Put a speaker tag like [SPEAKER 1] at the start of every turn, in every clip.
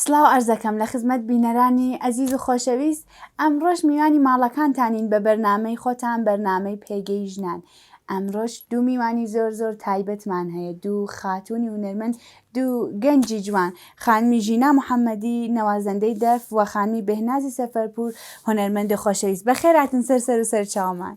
[SPEAKER 1] سلاو عەرزەکەم لە خزمەت بینەرانی ئەزیز و خۆشەویست ئەمڕۆش میوانی ماڵەکانتانین بە بەرنامەی خۆتان بەرنامەی پێگەی ژنان ئەمڕۆش دوو میوانی زۆر زۆر تایبەتمان هەیە دوو خاتوونی هونەرمەند دوو گەنجی جوان خانمی ژینا محەممەدی نەوازەندەی دەف و خانمی بهنازی سەفەرپور هونەرمەندی خۆشەویست بەخێراتن سەر سەر و سەر چاومان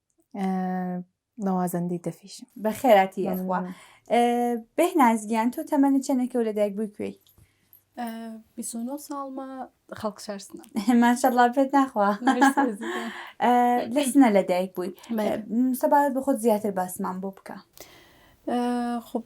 [SPEAKER 2] نەوازەندی دەفیشم بە خێراتی یاخوا
[SPEAKER 1] بێه نازگیان تۆ تەمەنە چەندێکە و لە دایک بووی کوێی
[SPEAKER 3] ساڵمە خەڵک شارسنە ماشەڵا پێت
[SPEAKER 1] ناخوا لەسنە لە دایک بووی سەبارەت بە خۆت زیاتر باسمان بۆ بکە
[SPEAKER 3] خب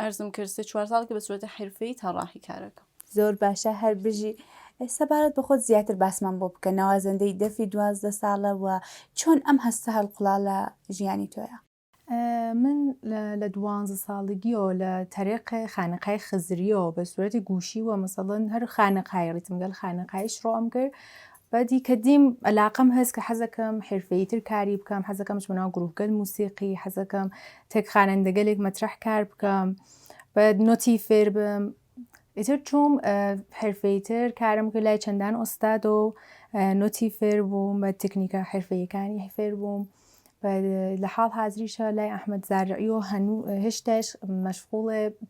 [SPEAKER 3] عەرزم کرد سێ چوار ساڵ کە بە سورەتی حرفەی تەڕاحی کارەکەم. زۆر باشە هەر
[SPEAKER 1] بژی. سەبارەت بە خۆت زیاتر باسمان بۆ بکە نوازەندەی دەفی دوازدە ساڵە و چۆن ئەم هەستە هەڵقوڵا لە ژیانی تۆیا؟ من
[SPEAKER 2] لە دوانزە ساڵگیەوە لە تەرێق خانەقای خزریەوە بە سورەتی گوشی و مەسەڵەن هەر خانەقای ڕیتمگەل خانەقایش ڕۆم کرد بەدی کە دیم ئەلاقەم هەس کە حەزەکەم حرفەیی تر کاری بکەم حەزەکەم بچمە ناو گروهگەل موسیقی حەزەکەم تەک خانەندەگەلێک مەترەح کار بکەم بە نۆتی فێر بم ئیتر چوم حرفەیی تر کارم کە لای چەندان ئۆستاد و نۆتی فێر بووم بە تکنیکە حرفەیەکانی فێر بووم لە حاڵ حازریشە لای ئەحمد زارعی و هەنوو هێشتاش مەشغوڵێ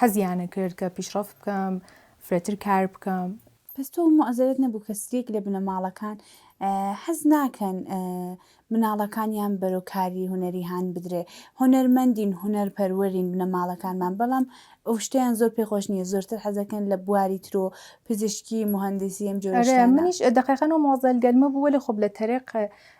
[SPEAKER 2] حەزیانەکرد کە پیشڕەفت بکەم، فرەتر کار بکەم. بەس تۆ موعزەرەت
[SPEAKER 1] نەبوو کە سریەک لە بنەماڵەکان حەز ناکەن مناڵەکانیان بەرەو کاری هونەری هان بدرێ، هونەرمەندین هونەر پەروەرین بنەماڵەکانمان بەڵام ئەوشتەیان زۆر پێ خۆش نیە زۆرتر حەزەکەن لە بواری ترۆ پزیشکی موهەندیسی ئەم جۆرە شتانە. ئەرێ منیش دەقیقەن ئەو
[SPEAKER 2] موعزەل گەرمە بوو وەلێ خۆب لە تەرێق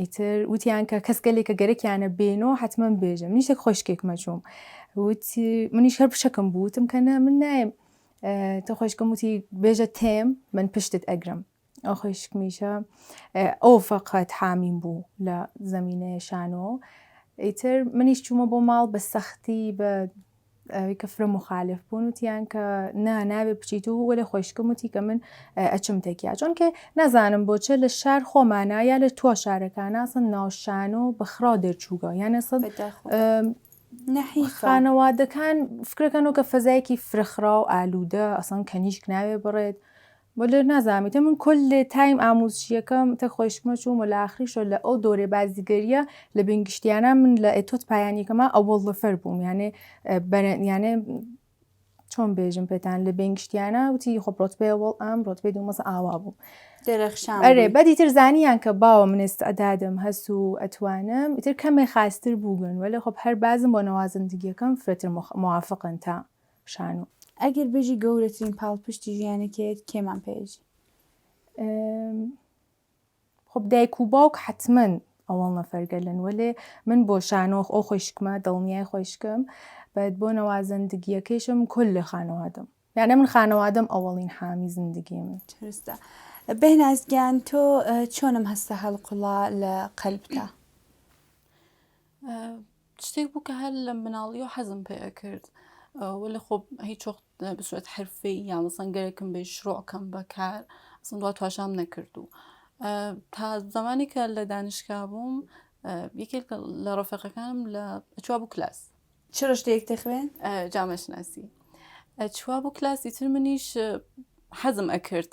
[SPEAKER 2] ئیتر وتیان کە کەس گەلێک کە گەرەکیانە بێنەوە حتمما بێژە منیش یەک خۆشکێک مەچووم وتی منیش هەر بچەکەم بوتم کە نە من نایم تە خۆشکەم وتی بێژە تێم من پشتت ئەگرم ئەو خۆشکمیشە ئەو فقط حامیم بوو لە زمینەیە شانۆ ئیتر منیش چوومە بۆ ماڵ بە سەختی بە ئەوی کە فرە مخالف بوون وتیان کە نا ناوێ بچیت و وەێ خۆشکم وتی کە من ئەچم تەکیا چۆنکە نازانم بۆچە لە شار خۆمانە یا لە تۆ شارەکانناسن ناوشان و بەخرا دەرچووگە یانە سەد خانەوادەکان فکرەکەن و کە فەزایەکی فرەخرا و ئالوودە ئەسان کەنیشک ناوێ بڕێت بلر نازانم ئیتر من کل تایم ئاموزشیەکەم تە خوەیشکمە چووم و لە ئاخریشەو لە ئەو دۆرەی بازیگەریە لە بین گشتیانە من لە ئێتۆت پایانیەکەما ئەوەڵ نەفەر بووم یانێ بەرە یانێ چۆن بێژم پێتان لە بین گشتیانە وتی خۆ ڕۆتبێ ئەوەڵ ئەم ڕۆتبێ دوو مەسە ئاوا بووم درەخشان ئەرێ بووی.
[SPEAKER 1] بەدی تر
[SPEAKER 2] زانیان کە باوە من ئێستعدادم هەس و ئەتوانم ئیتر کەمێ خاستر بووگن وەلێ خۆ هەر بازم بۆ نەوازەندگیەکەم فرەتر مخ موافقن تا شانۆ. ئەگەر بژی
[SPEAKER 1] گەورەترین پاڵپشتی ژیانەکەیت کێمان پێژی؟
[SPEAKER 2] خب دایک و باوک حتمما ئەوەڵ نەفەرگەلن وەلێ من بۆ شانۆخ ئەو خۆشکمە دڵنیای خۆشکم بەد بۆ نەوازەندگیەکەیشم کل لە خانەوادەم یانە من خانەوادەم ئەوەڵین حامی زندگی من چرستە
[SPEAKER 1] بەهنازگیان تۆ چۆنم هەستە هەڵقوڵا لە قەلبتا
[SPEAKER 3] شتێک بوو کە هەر لە مناڵیەوە حەزم پێ ئەکرد وەلێ خۆ هیچ وەخت بە سوێت حرفەی یا مەسەن گەرەکم بێ شڕۆکەم بەکار ئەسم دوا تواشام نەکرد و تا زمانی کە لە دانیشکا بووم یەکێک لە ڕفەقەکانم لە چوا بوو کلاس چ ڕشتەیەک
[SPEAKER 1] دەخوێن جامەشناسی
[SPEAKER 3] چوا بوو کلاسی تر منیش حەزم ئەکرد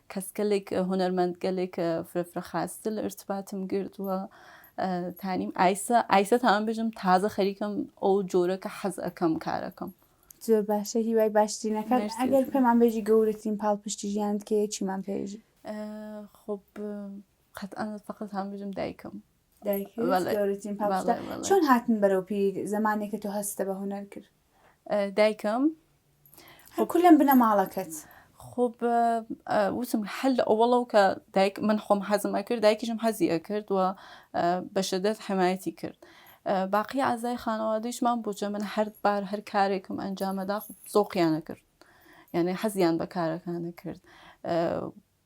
[SPEAKER 3] کەسگەلێک هونەرمەندگەلێک فرەفرە خاستر لە ارتباتم گردووە تانیم ئایسە ئایسە تاان بژم تازە خەریکم ئەو جۆرە کە حەز ئەەکەم کارەکەم زۆر باشە
[SPEAKER 1] هیوای باشترینەکان ئەگەر پێمان بێژی گەورەترین پاڵ پشتی ژیانت کێ چیمان پێژی خب
[SPEAKER 3] قەت ئەە فقط هەم بژم دایکم دایکم
[SPEAKER 1] چۆن هاتن بەرەو پیر زمانێکە تۆ هەستە بە هونەر کرد دایکم خۆ کولم بنە ماڵەکەت خۆ
[SPEAKER 3] وتم حل ئەوەڵەو کە دایک من خۆم حەزم ئەکرد دایکیشم حەزی ئەکرد و بەشدەست حمایەتی کرد باقی ئازای خانەوادەیشمان بۆچە من هەر بار هەر کارێکم ئەنجامەدا زۆقییانە کرد یعنی حەزیان بە کارەکانە کرد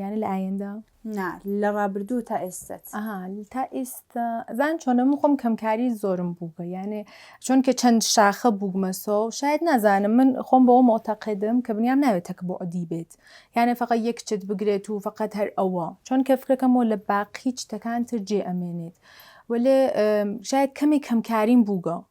[SPEAKER 2] یانە لە ئایندە نا لە
[SPEAKER 1] ڕابردوو تا ئێستت تا
[SPEAKER 2] ئێستا زان چۆنە من خۆم کەمکاری زۆرم بووگە یانێ چونکە چەند شاخە بووگمەسۆ و شاید نازانم من خۆم بەەوە مۆتەقدم کە بنیام ناوێت تەک بۆ عدی بێت یانێ فقط یەک چت بگرێت و فقط هەر ئەوە چۆنکە فکرەکەم و لە باقی چتەکان تر جێ ئەمێنێت وەێ شاید کەمی کەمکاریم بووگە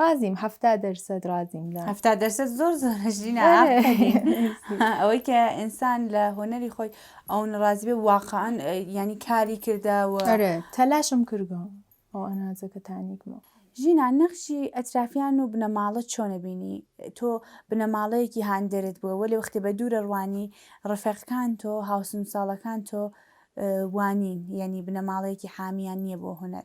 [SPEAKER 2] ڕازیم هەفتا دەرسەد ڕازیم لە هەفتا دەرسەد زۆر زۆر
[SPEAKER 1] ژینا ئەوەی کە ئینسان لە هۆنەری خۆی ئەو نڕازیبێ واقعان ینی کاری کردەوە تەلاشم
[SPEAKER 2] کردم ئەو ئەنازەکە تانیکمەوە ژینا
[SPEAKER 1] نەخشی ئەترافیان و بنەماڵە چۆنە بینی تۆ بنەماڵەیەکی هاندەرت بووە وە لە وەختێ بە دوورە ڕوانی ڕفێقەکان تۆ هاوسن ساڵەکان تۆ وانین یعنی بنەماڵەیەکی حامیان نییە بۆ هوەر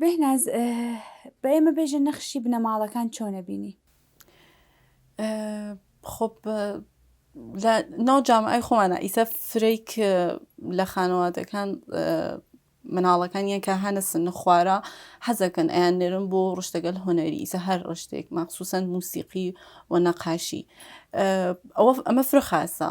[SPEAKER 2] بێهناز
[SPEAKER 1] بە ئێمە بێژە نەخشی بنەماڵەکان چۆنە بینی
[SPEAKER 3] خۆ لە ناو جامعی خۆمانە ئیسە فرەیک لە خانەوادەکان مناڵەکان یەن کە هەنە سن خوارە حەزەکەن ئەیان نێرم بۆ ڕشتەگەل هۆنەری ئیسە هەر ڕشتێک مەخصوسەن موسیقی و نەقاشی ئەوە ئەمە فرە خاصە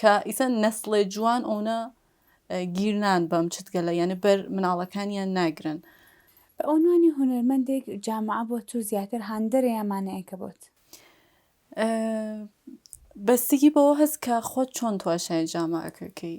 [SPEAKER 3] کە ئیسە نەسڵێ جوان ئۆنە گیر نان بەم چتگەلە یانە بەر مناڵەکانیان ناگرن. بە
[SPEAKER 1] عنوانی هونەرمەندێک جامعە بۆ تو زیاتر هاندەرە یان مانەیەکە بۆت؟
[SPEAKER 3] بەستگی بەوە هەست کە خۆت چۆن تواشای جامعەکەکەی.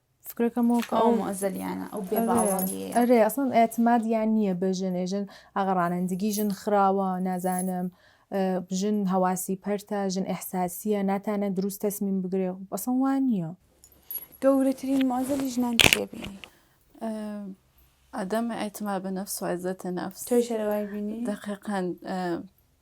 [SPEAKER 2] فکرەکەم وەک ئەو ئەو معزەلیانە ئەو
[SPEAKER 1] بێ ئەرێ باوەڕیەیە ئەرێ ئەسڵەن
[SPEAKER 2] ئێتمادیان نییە بە ژن ئێ ژن ئاغا ڕانندگی ژن خراوە نازانم ئە، ژن هەواسی پەرتە ژن ئێحساسییە ناتانە دروست تەسمیم بگرێ خۆ ئەسڵەن وا نییە. گەورەترین
[SPEAKER 1] معزەلی ژنان چییە بینی؟
[SPEAKER 3] عدم اعتماد بنفس و عزت نفس تۆی شەرەوای بینی؟
[SPEAKER 1] دەقیقەن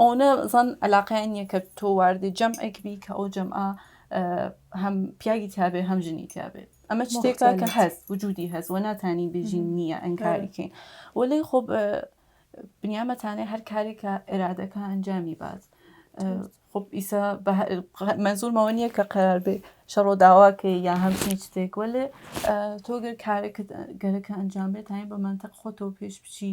[SPEAKER 3] ئەونە زان علاقیان نیە کە تۆ واردی جەمعێک بی کە ئەو جەمعە هەم پیاگی تابێ هەم ژنی تابێ ئەمە شتێکە کە هەست وجودی هەست و ناتانی بژین نییە ئەنکاریکەین وەلی خۆ بنیامەتانێ هەر کارێکە ئێرادەکە ئەنجامی بات خب ئیسا مەزورمەوە نییە کە قرار بێ شەڕۆ داواکەی یا هەمچین شتێک وەلێ تۆگەر کارێکە گەرەکە ئەنجام بێت تاین بە منتەق خۆتەوە پێش بچی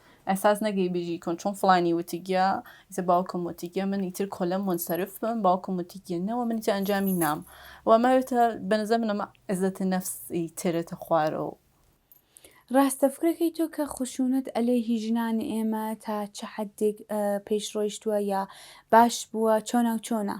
[SPEAKER 3] ئەساس نەگەی بژی کۆن چۆن فڵانی وتگیە ئیتر باوکم وتگیە من ئیتر کۆلم منسەرف بم باوکم وتگیە نەوە من ئیتر ئەنجامی نام و ئەمەوێتە بەنزە من ئەمە عزەتە نەفسی ترێتە خوارەوە
[SPEAKER 1] ڕاستە فکرەکەی تۆ کە خشونەت ئەلێ هی ژنان ئێمە تا چ حدێک پێش ڕۆیشتووە یا باش بووە چۆنا و چۆنا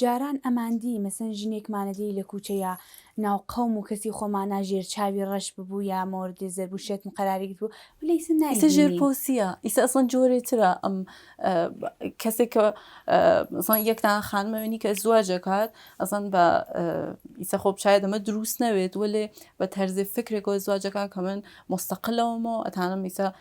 [SPEAKER 1] جاران ئەمان دی مەسەن ژنێکمانە دی لە کوچە یا ناو قەوم و کەسی خۆمانا ژێر چاوی ڕەش ببوو یا مۆرد زەربو شێتم قەراری گرت بوو وەلێ ئیسە نای ئیسە ژێر پۆسیە
[SPEAKER 3] ئیسە ئەسڵەن جۆرێ ترە ئەم کەسێک کە مەسەڵەن یەک تا خانمە وێنی کە ئەزواج ئەکات ئەسڵەن بە ئیسە خۆ بچایە دەمە دروست نەوێت وەلێ بە تەرزێ فکرێکەوە ئەزواجەکان کە من مستەقلەوەمەوە ئەتانم ئیسە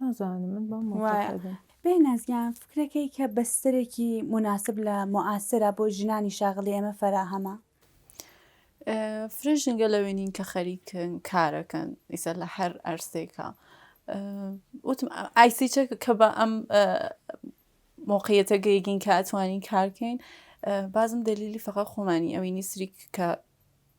[SPEAKER 2] نازانم من بەم وایە مۆتەقەدم بێناز گیان
[SPEAKER 1] فکرەکەی کە بەستەرێکی موناسب لە موعاسرە بۆ ژنانی شاغلی ئێمە فەراهەمە؟ ئە، فرە
[SPEAKER 3] ژنگە لەوێ نین کە خەریکن کارەکەن ئیسە لە هەر ئەرسێکا ئە، وتم ئە، ئایسی چە کە بە ئەم ئە، مۆقعیەتە گەیگین کە ئەتوانین کارکەین ئە، بازم دەلیلی فەقە خۆمانی ئەوینی سریک کە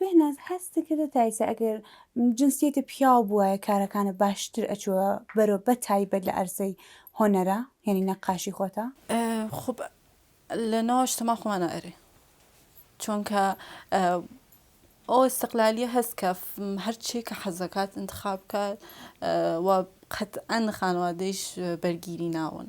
[SPEAKER 3] بێهناز
[SPEAKER 1] هەستکردە تایسە ئەگەر جنسیەتە پیاو بوایە کارەکانە باشتر ئەچوە بەرۆ بە تایبەت لە ئەرزەی هۆنەرە یعنی نەقاشی خۆتە؟ خب
[SPEAKER 3] لە ناوەش تەما خۆمانە ئەرێ چۆنکە ئەو استقلالیە هەست کە هەرچی کە حەزەکات انتخاب کات و قەت ئەن خانوادەیش بەرگیری ناون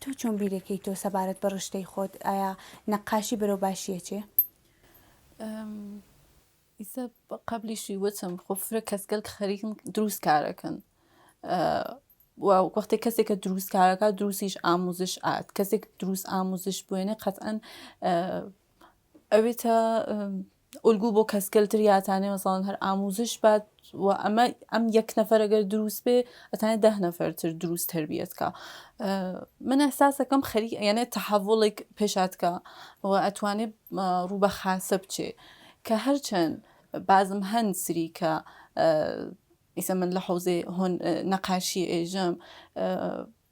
[SPEAKER 1] تۆ چۆن بیرەکەی تۆ سەبارەت بە ڕشتەی خۆت ئایا نەقاشی بەرەو باشیە چێ؟
[SPEAKER 3] ئیسە قبلیشی وتم خۆ فرە کەسگەل خەریکم دروست کارەکەن وەختی کەسێک کە دروست کارەکە دروستیش ئاموزش ئات کەسێک دروست ئاموزش بوێنێ قەتەن ئەوێتە ئولگو بۆ کەسگەل تر یا ئەتانێ مەسەڵەن هەر ئاموزش بات و ئەمە ئەم یەک نەفەر گەر دروست بێ ئەتانێ دە نەفەر تر دروست تربیت کە من ئەساسەکەم خەری یانێ تەحەڤڵێک پێشاتکە و ئەتوانێ ڕوو بە خاسە بچێ کە هەرچەند بازم هەن سری کە ئیسە من لە حوزێ هۆن نەقاشی ئێژەم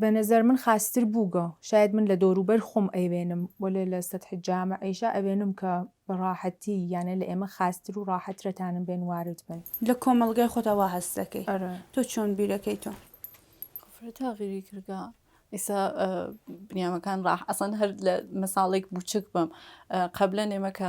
[SPEAKER 2] بە نەزەر من خاستر بووگە شاید من لە دەورو بەر خۆم ئەیوێنم وەلێ لە سەتح جامع ئیشا ئەوێنم کە بە ڕاحەتی یانێ لە ئێمە خاستر و ڕاحەترە تانم بێن وارد بن. لە کۆمەڵگای خۆتا
[SPEAKER 1] وا هەست دەکەی ئەرێ. تۆ چۆن بیر ئەکەی تۆ. کفر
[SPEAKER 3] تاغیری کردە ئیسا بنیامەکان ڕاح ئەسڵەن هەر لە مەساڵێک بوچک بەم قەبلەن ئێمە کە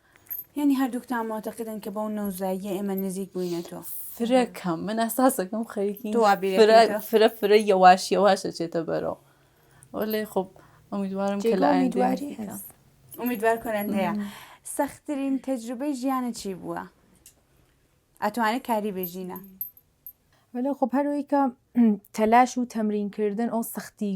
[SPEAKER 3] یانی هەردووکتان
[SPEAKER 1] معتەقدن کە بەو نەوزاییە ئێمە نزیک بووینەتەوە فرە کەم من
[SPEAKER 3] ئەساسەکەم خەریکی تۆ وا بیرت فرە کردووە؟ فرە فرە یەواش یەواشە چێتە بەرەوە وەلێ خۆ ئەمیدوارم کە لە جێگە ئایندە ئومیدواری نزیکە. هەست ئومیدوار
[SPEAKER 1] کۆنت هەیە سەختترین تەجروبەی ژیانە چی بووە
[SPEAKER 2] ئەتوانێت
[SPEAKER 1] کاری
[SPEAKER 2] بێژینە ولی
[SPEAKER 1] خب هەروەی
[SPEAKER 2] کە تەلاش و تەمرینکردن ئەو سەختی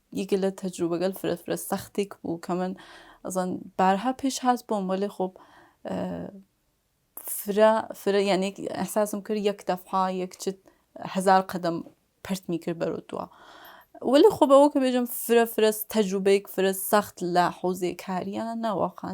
[SPEAKER 3] یەکێ لە تەجروبەگەل فرە فرە سەختیگ بوو کە من ئەزان بارها پیش هات بۆم وەلێ خۆ فرە فرە یانێ ئەحساسم کرد یەک دەفعا یەک چت هەزار قەدەم پرتمی کرد بەرەو دوا وەلی خۆ بەوە کە بێژم فرە فرە تەجروبەیەک فرە سەخت لە حوزێ کاریانە واقعا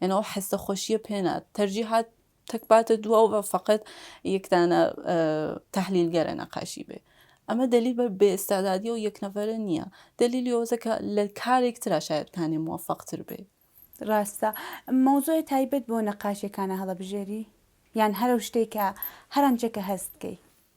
[SPEAKER 3] یان ئەو حەستە خۆشیە پێ نات تەرجی هات تەک باتە دوا و فقط یەک دانە تحلیلگەرە نەقاشی بێ ئەمە دلیل بە بێستادادی و یەک نەفەرە نییە دلیلی ئەوزەکە لە کارێک ترا شاید کانێ موفقتر بێ ڕاستە
[SPEAKER 1] مەوزوع تایبەت بۆ نەقاشەکانە هەڵەبژێری یان هەرو شتێکە هەرەنچەکە هەست بکەی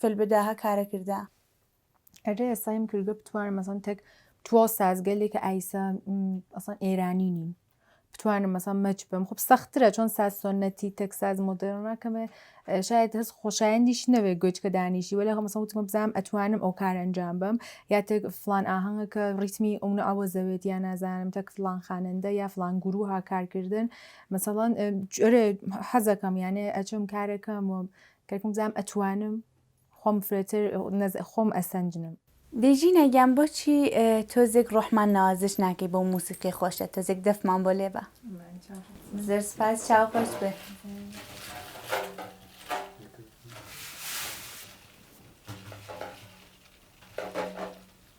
[SPEAKER 1] فل بدا هە کارە کردە.
[SPEAKER 2] ئەرێ سەیم کردگە بتوانم مەسەن تەک تواو سازگەلێ کە ئایسە ئەسان ئێرانی نین بتوانم مەسەن مەچ بم خب سەخترە چۆن ساز سۆنەتی تەک ساز مۆدرنا کەمێ شاید هەست خۆشایندیش نەوێ گوێچکە دانیشی وەلێ خۆ مەسەن وتمە بزانم ئەتوانم ئەو کار ئەنجام بم یا تەک فلان ئاهەنگە کە ڕیتمی ئەونە ئەوە زەوێت یا نازانم تەک فلان خانەندە یا فلان گروها کارکردن مەسەڵەن جۆرێ حەزەکەم یانێ ئەچم کارەکەم و کەرکم بزانم ئەتوانم خۆم فرەتر خۆم ئەسەنجنم. دەی ژینا گیان
[SPEAKER 1] بۆچی تۆزێک ڕۆحمان ناوازش ناکەی بەو موسیقی خۆشە تۆزێک دەفمان بۆ لێبە. زۆر سپاس چاو خۆش بێ.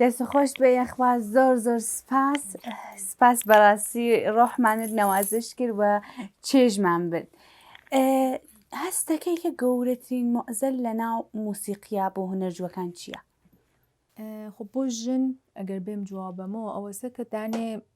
[SPEAKER 1] دەست خۆش بێ یەخوا زۆر زۆر سپاس سپاس بەڕاستی ڕۆحمانت نەوازش کرد و چێژمان برد هەستەکەی کە گەورەترین مۆزەل لە ناو موسیقیا بۆ هونەرجوەکان چییە؟
[SPEAKER 2] خۆ بۆ ژن ئەگەر بێم جوابەمەوە ئەوەسە کە دانێ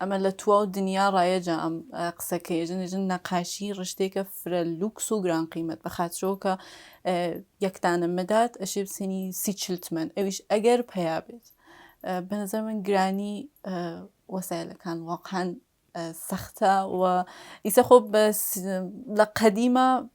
[SPEAKER 3] ئەمە لە تواو دنیا ڕایەجە ئەم قسە کە یەژن یەژن نەقاشی ڕشتێکە فرە لوکس و گران قیمەت بە خاترەوە کە یەکدانە مەدات ئەشێ بسێنی سی چلتمەن ئەویش ئەگەر پیا بێت بەنظر من گرانی وەسایلەکان واقعاان سەختە و ئیسە خۆ بە لە قەدیمە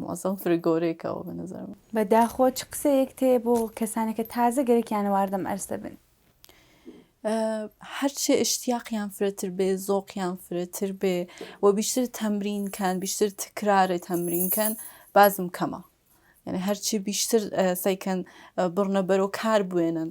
[SPEAKER 3] موعزەم فرگۆرەی کاوە بە نەزەر من. بە داخۆ چ قسەیەکت
[SPEAKER 1] هەیە بۆ کەسانە کە تازە گەرەکیانە واردەم ئەرز دەبن؟
[SPEAKER 3] هەرچێ ئشتیاقیان فرەتر بێ زۆقیان فرەتر بێ و بیشتر تەمرین کەن بیشتر تکرارێ تەمرین کەن بازم کەمە یعنی هەرچی بیشتر سەیکەن بڕنە بەرەو کار بێنن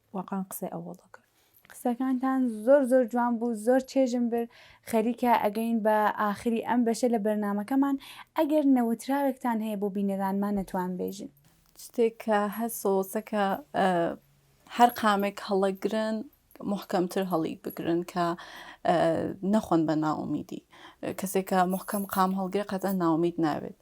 [SPEAKER 2] واقان قسەی ئەوەڵ دەکرد. قسەکانتان
[SPEAKER 1] زۆر زۆر جوان بوو زۆر چێژم برد خەریکە ئەگەین بە ئاخری ئەم بەشە لە بەرنامەکەمان ئەگەر نەوتراوێکتان هەیە بۆ بینەرانمان نەتوان بێژن شتێک کە
[SPEAKER 3] هەسۆزەکە هەر قامێک هەڵەگرن محکەمتر هەڵی بگرن کە نەخۆن بە ناومیدی کەسێکە محکەم قام هەڵگرێ قەتە ناومید ناوێت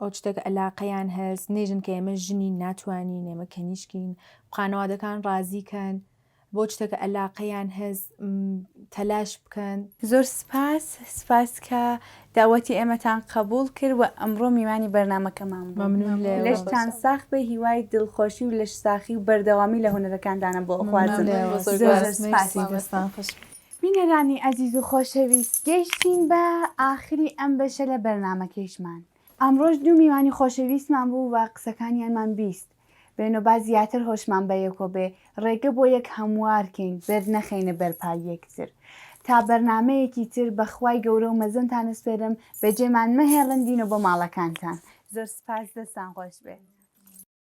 [SPEAKER 2] ئەو شتێک ئەلاقەیان هەست نێژن کە ئێمە ژنین ناتوانین ئێمە کەنیشکین خانەوادەکان ڕازی کەن بۆ شتێکە ئەلاقەیان هەز تەلاش بکەن زۆر سپاس
[SPEAKER 1] سپاس کە داوەتی ئێمەتان قبول کرد و ئەمڕۆ میوانی بەرنمەکەمان مەمنون لەشتان
[SPEAKER 2] ساخ بە
[SPEAKER 1] هیوای دڵخۆشی و لەش ساخی و بەردەوامی لە هونەرەکاندانە بۆ ئەخوازم زۆر سپاسی دەستان خوش بینەرانی ئەزیز و خۆشەویست گەیشتین بە ئاخری ئەم بەشە لە بەرنامەکەیشمان ئەمڕۆش دوو میوانی خۆشەویستمان بوو و قسەکانیانمان بیست بێن و با زیاتر هۆشمان بە یەکۆ بێ ڕێگە بۆ یەک هەموار کەین بێت نەخەینە بەر پای یەکتر تا بەرنامەیەکی تر بە خوای گەورە و مەزنتان ئەسپێرم بەجێمان مەهێڵن دینۆ بۆ ماڵەکانتان زۆر سوپاس دەستان خۆش بێ.